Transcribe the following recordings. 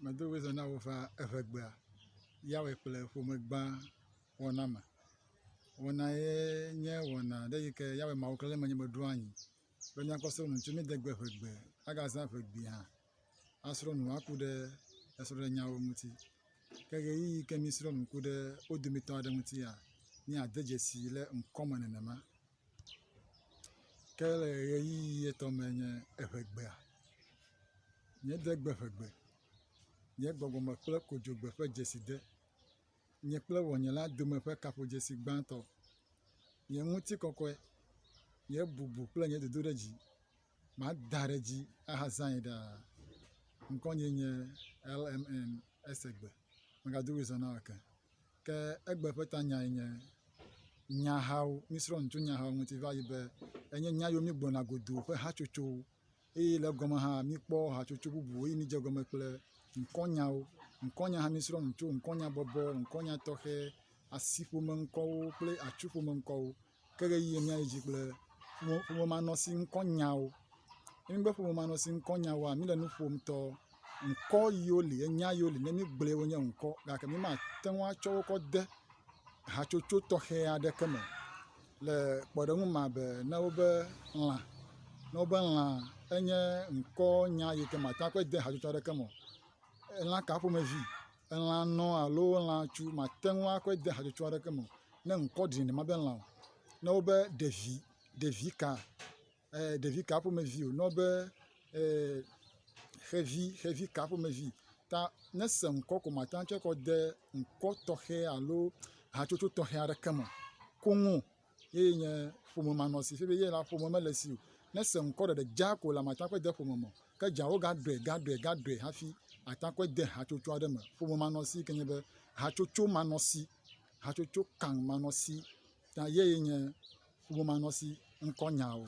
Medo ŋusẽ na wò va eŋɛgbea, yawɔe kple ƒome gbã wɔna me. Wɔna ye nye wɔna ɖe yike yawɔe Mawu klena ɖe menye meɖo anyi be míakpɔ srɔ̃ɖeɖe ŋuti. Míade gbe eŋɛgbe, agazã eŋɛgbe hã asrɔ̃ nu aku ɖe esrɔ̃ɖenyawo ŋuti. Ke ɣeyiɣi yike mísrɔ̃ nu ku ɖe wo dometɔ aɖe ŋutia, míade dzesi le ŋkɔ me nenema. Ke le ʋeyiʋi etɔ me nye eŋegbea, nye degbe ƒe gbe, nye gbɔgbɔme kple kodzogbe ƒe dzeside, nye kple ŋɔnye la dome ƒe kaƒodzesi gbãtɔ, nye ŋutikɔkɔe, nye bubu kple nye dodoɖedzi. Mada ɖe edzi ahazãe ɖaa. Ŋkɔnye nye LMN Esegbe. Megado ɣli zã na eke. Ke egbe ƒe tanyae nye nyahawo, mísrɔ̃ nu tso nyahawo ŋuti va yi be enye nya yiwo mígblɔna godoo ƒe hatsotsowo eye le egɔme hã míkpɔ hatsotso bubu eye mídze egɔme kple ŋkɔnyawo. Ŋkɔnya hã mísrɔ̃ nu tso ŋkɔnyabɔbɔ, ŋkɔnya tɔxɛ, asiƒomeŋkɔwo kple atsuƒomeŋkɔwo. ke ʋeyiʋi míayi dzi kple ƒomemanɔsi ŋkɔ nyawo. Ne mígbe ƒomemanɔsi ŋkɔ nyawoa, míle nu ƒom tɔ ŋkɔ yiwo li ye nya yiwo li ne míegblɔe wonye ŋkɔ gake mímate ŋu atsɔ wo kɔ de hatsotso tɔxɛ aɖeke me le kpɔɖeŋu me abe na wobe lã. Na wobe lã enye ŋkɔnya yi ke mate ŋu akɔe ade hatsotso aɖeke me o. Lã ka ƒomevi? elã nɔ alo lã tsu màte ŋu akɔe de hatsotso aɖeke me o ne ŋkɔ ɖi nɛ mabe lã o. Ne wobe ɖevi, ɖevika, ee ɖevika ƒomevi o ne wobe ee xevi, xevika ƒomevi ta ne ese ŋkɔ ko màte ŋu atsɔe akɔ de ŋkɔ tɔxɛ alo hatsotso tɔxɛ aɖeke me o koŋ o. eye nye ƒome manɔ si fifia be ye la ƒome mele esi o. Ne ese ŋkɔ ɖeɖe dzaa ko la, mate ŋu akɔe de ƒome me o. Ke edzea wogaɖɔe, gaɖɔe, gaɖɔe hafi ate ŋu akɔe de hatsotso aɖe me. Ƒome manɔsi yi ke nye be hatsotso manɔsi, hatsotso kaŋ manɔsi ta yee nye ƒome manɔsi ŋkɔnyawo.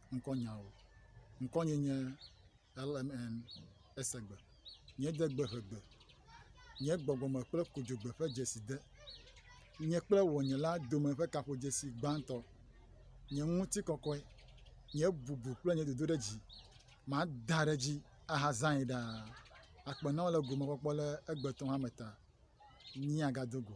ŋkɔnya o. Ŋkɔnye nye LMN Esegbe. Nye degbe ƒe gbe. Nye gbɔgbɔme kple kodzogbe ƒe dzeside. Nye kple wɔnyela dome ƒe gaƒodzesi gbãtɔ. Nye ŋutikɔkɔe, nye bubu kple nye dodoɖedzi, mada ɖe edzi ahazãe ɖaa. Akpe na wò le gomekpɔkpɔ le egbetɔ hame ta. Míagado go.